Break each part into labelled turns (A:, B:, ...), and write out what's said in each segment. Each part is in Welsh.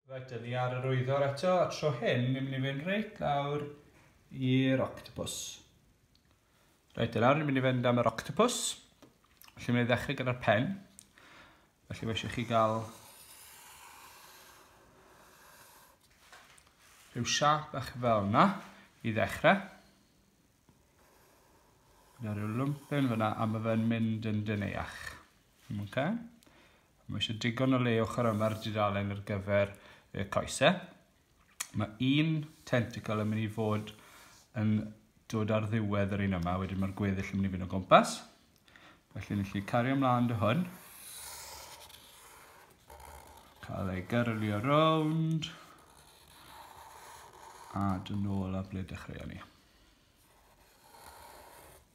A: Reit, dyn ni ar yr wyddor eto, a tro hyn, ni'n mynd i fynd reit lawr i'r octopus. Reit, dyna, ni'n mynd i fynd am yr octopus. Felly, mae'n ddechrau gyda'r pen. Felly, mae eisiau chi gael rhyw siap eich fel yna i ddechrau. Dyna rhyw lwmpyn fyna, a mae fe'n mynd yn dyneach. Ok. Mae eisiau digon o le ochr yma'r dudalen ar gyfer y coesau. Mae un tentacle yn mynd i fod yn dod ar ddiwedd yr un yma, wedyn mae'r gweddill yn mynd i fynd o gwmpas. Felly ni allu cario ymlaen dy hwn. Cael ei gyrlio rownd. A dyn nôl a ble dechreuon ni.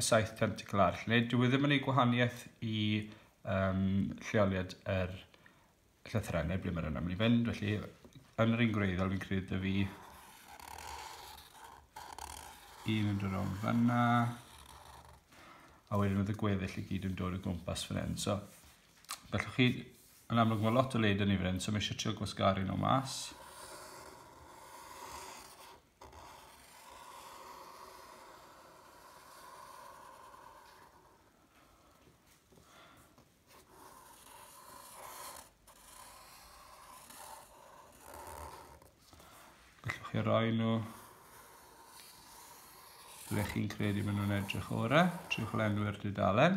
A: y saith tentacl arall, neu dwi e ddim yn ei gwahaniaeth i um, lleoliad yr llythyrau, neu ble mae'r yna mynd i fynd, felly yn yr un gwreiddiol fi'n credu dy fi un yn dod o'n fanna a wedyn oedd y gweddill i gyd yn dod o gwmpas fan hyn. So, gallwch chi, yn amlwg mae lot o led yn ei fan hyn, so mae eisiau trio gwasgaru nhw mas. chi roi nhw ble chi'n credu maen nhw'n edrych orau. Trewch lenwi'r dudalen.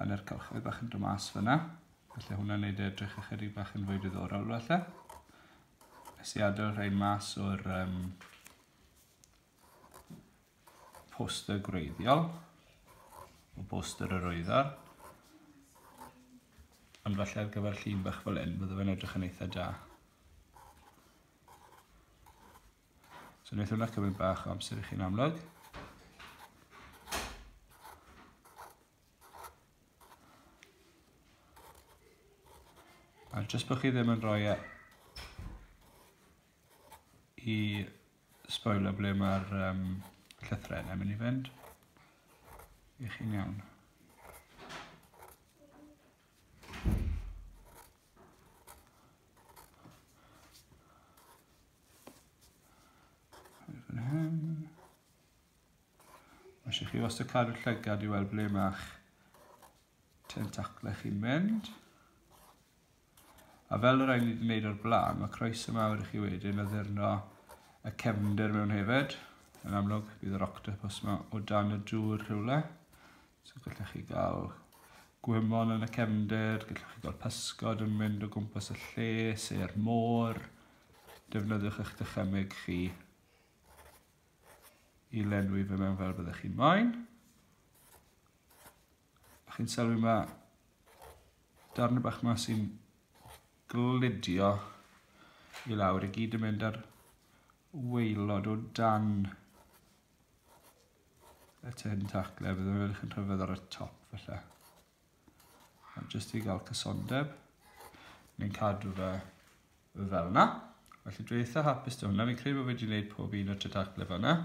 A: Hanner cylchoedd bach yn dod mas fyna. Felly hwnna'n neud e edrych ychydig bach yn fwy diddorol felly. Nes i adael rhain mas o'r um, poster gwreiddiol, o boster yr oeddar. Ond falle ar gyfer llun bach fel hyn, bydde fe'n edrych yn eitha da. So wneud hwnna cymryd bach o amser i chi'n amlwg. A jyst bod chi ddim yn rhoi e i spoiler ble mae'r um, llythrenau yn mynd i fynd. I chi'n iawn. Mae eisiau chi wastad cadw llygad i weld ble mae'ch tentaclau chi'n mynd. A fel yr ein ni wedi gwneud o'r blaen, mae croes y mawr i chi wedyn addurno y cefnder mewn hefyd. Yn amlwg, bydd yr octopus yma o dan y dŵr rhywle. So gallech chi gael gwymon yn y cefnder, gallech chi gael pysgod yn mynd o gwmpas y lle, se'r môr. Defnyddiwch eich dychymyg chi i lenwi fe mewn fel byddech chi'n moyn. A chi'n sylwi yma darn bach yma sy'n glidio i lawr i gyd yn mynd ar waelod o dan y tin tacle, bydd yn edrych yn rhyfedd ar y top felly. Ond jyst i gael cysondeb, ni'n cadw fe fel yna. Felly dwi eitha hapus dy hwnna, fi'n credu bod fi wedi gwneud pob un o'r tin tacle fanna.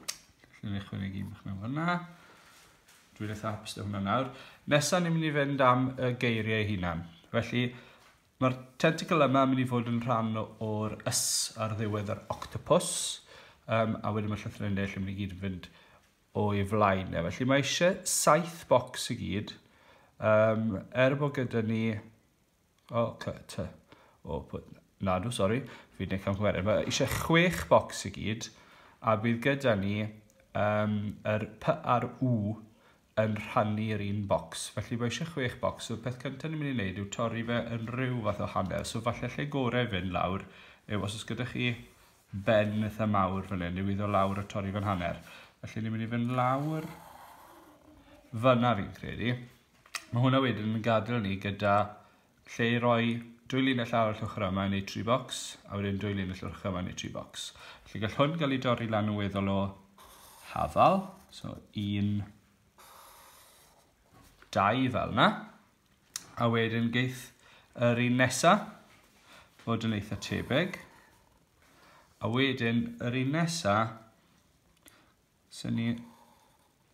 A: Felly ni'n chwynnu un bych mewn fanna. Dwi'n eitha hapus dy hwnna nawr. Nesa ni'n mynd i fynd am y geiriau hunan. Felly, Mae'r tentacle yma yn mynd i fod yn rhan o'r ys ar ddiwedd yr octopus, um, a wedyn mae llythrau'n deill yn mynd i gyd yn fynd o'i flaen. E. Felly mae eisiau saith bocs i gyd, um, er bod gyda ni... O, oh, cy, ty. O, oh, nadw, sori, fi wedi'n camgymeriad. Mae eisiau chwech bocs i gyd, a bydd gyda ni um, yr P a'r U yn rhannu'r un bocs, felly mae eisiau chwech bocs, so peth cyntaf ni'n mynd i wneud yw torri fe yn rhyw fath o hanner, so falle lle gorau i fynd lawr yw os oes gyda chi ben eitha mawr fan hyn, yw iddo lawr a torri fe'n hanner. Felly ni'n mynd i fynd lawr fyna fi'n credu. Mae hwnna wedyn yn gadael ni gyda lle i roi dwy linell arall ochr yma yn eu tri bocs, a wedyn dwy linell ochr yma yn eu tri bocs. Felly gall hwn gael ei dorri lan yn weddol o hafal, so un, dau fel yna, a wedyn geith yr un nesa fod yn eitha tebyg, a wedyn yr un nesa So ni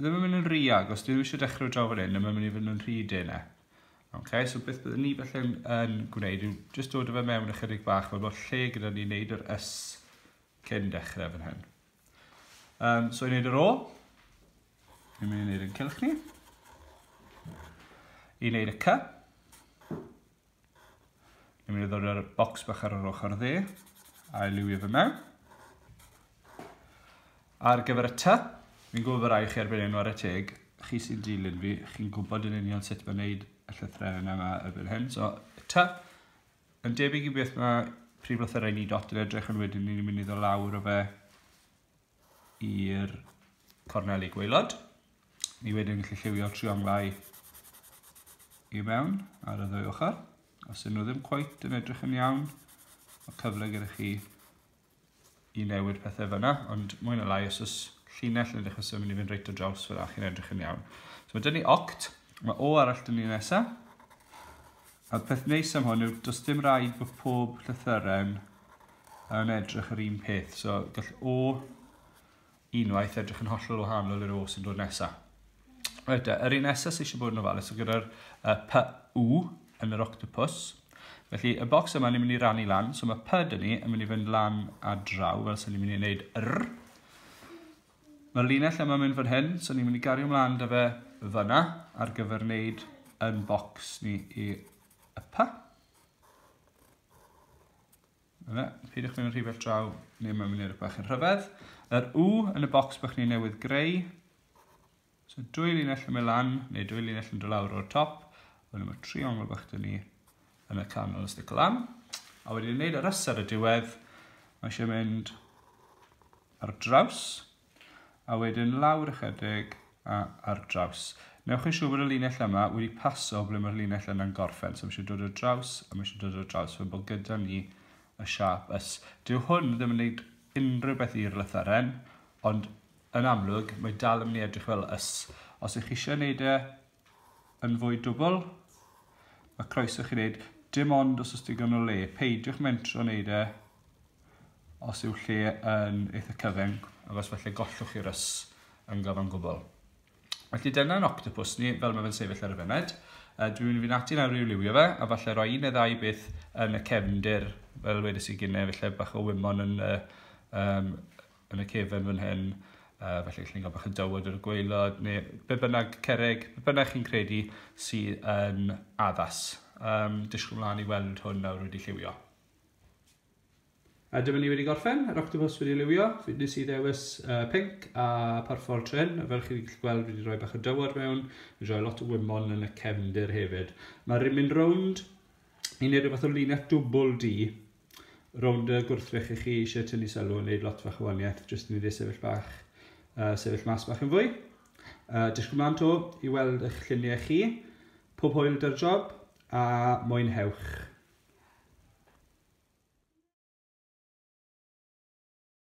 A: ddim yn mynd yn rhy agos, dwi ddim eisiau dechrau draw fan hyn, mae'n mynd i fod yn rhy dena. Okay, so beth byddwn ni felly yn gwneud yw just dod o fe mewn ychydig bach, fel bod lle gyda ni wneud yr ys cyn dechrau fan hyn. Um, so i wneud yr o, ni'n mynd i wneud yn cylch ni. I wneud y cy, Ni'n mynd i ddod â'r bocs bach ar yr ochr dde, a'i liwio fe mewn. Ar gyfer y ty, fi'n gwybod bod rai chi ar enw ar y teg, chi sy'n dilyn fi, chi'n gwybod yn union sut mae'n neud y llythrenau yma erbyn hyn. So, y ty, yn debyg i beth mae prif lythyrau ni dot yn edrych yn wedyn ni'n mynd i ddod lawr o fe i'r corneli gweilod. Ni wedyn yn gallu lliwio trionglau i mewn ar y ddwy ochr. Os ydyn nhw ddim cweit yn edrych yn iawn, mae cyfle gyda chi i newid pethau fyna, ond mwy na lai os oes llinell yn dechrau symud i fynd reit o draws fyna chi'n edrych yn iawn. So mae dyn ni oct, mae o arall dyn ni nesaf. A'r peth neis am hwn yw does dim rhaid bod pob llythyren yn edrych yr un peth. So gall O unwaith edrych yn hollol wahanol i'r O sy'n dod nesaf. Right, e, yr un nesaf sy'n eisiau bod yn ofalus gyda'r uh, py u yn yr octopus. Felly, y bocs yma ni'n mynd i rannu lan, so mae pyd yn ni yn mynd i fynd lan a draw, fel sy'n ni'n mynd i wneud r. Mae'r linell yma mynd fan hyn, so ni'n mynd i gario mlaen da fe fyna ar gyfer wneud yn bocs ni i y pa. Yna, peidiwch mynd yn rhy bell draw, neu mae'n mynd i'r bach yn rhyfedd. Yr U yn y bocs bych ni newydd greu, So dwy linell yn mynd lan, neu dwy linell yn dod lawr o'r top, wedyn mae triongl bach dyn ni yn y canol yn stico lan. A wedyn wneud yr ysad y diwedd, mae eisiau mynd ar draws, a wedyn lawr ychydig a ar draws. Newch chi siŵr bod y linell yma wedi paso ble mae'r linell yna'n gorffen, so mae eisiau dod ar draws, a mae eisiau dod ar draws, fe bod gyda ni y siap ys. Dyw hwn ddim yn gwneud unrhyw beth i'r lytharen, ond yn amlwg, mae dal yn mynd i edrych fel ys. Os ych chi eisiau gwneud e yn fwy dwbl, mae croeso chi wneud dim ond os oes digon o le. Peidiwch mentro wneud e os yw lle yn eitha cyfyng, agos felly gollwch chi'r ys yn gyfan gwbl. Felly dyna yn octopus ni, fel mae fe'n sefyll ar y fyned. Uh, dwi'n mynd i fynd ati nawr i'w liwio fe, a falle roi un neu ddau beth yn y cefndir, fel wedys i gynne, felly bach o wymon yn y um, yn y cefen fan hyn, uh, felly chi'n cael bach o dywod ar y gweilod, neu be bynnag cerrig, be bynnag chi'n credu sydd yn addas. Um, disgwyl mlaen i weld hwn nawr wedi lliwio. A dyma ni wedi gorffen, yr octopus wedi liwio, fi nes i ddewis uh, pink a parfol trin, a fel chi'n gallu gweld wedi rhoi bach o dywod mewn, wedi rhoi lot o wymon yn y cefndir hefyd. Mae rhywun rownd i wneud rhywbeth o linell dwbl di, Rownd y gwrthrych i chi eisiau tynnu sylw yn neud lot fach o waniaeth jyst i ni dde sefyll bach, uh, sefyll mas bach yn fwy. Uh, Disgwyl mlaen to i weld eich lluniau chi. Pob hwyl dy'r job a mwynhewch.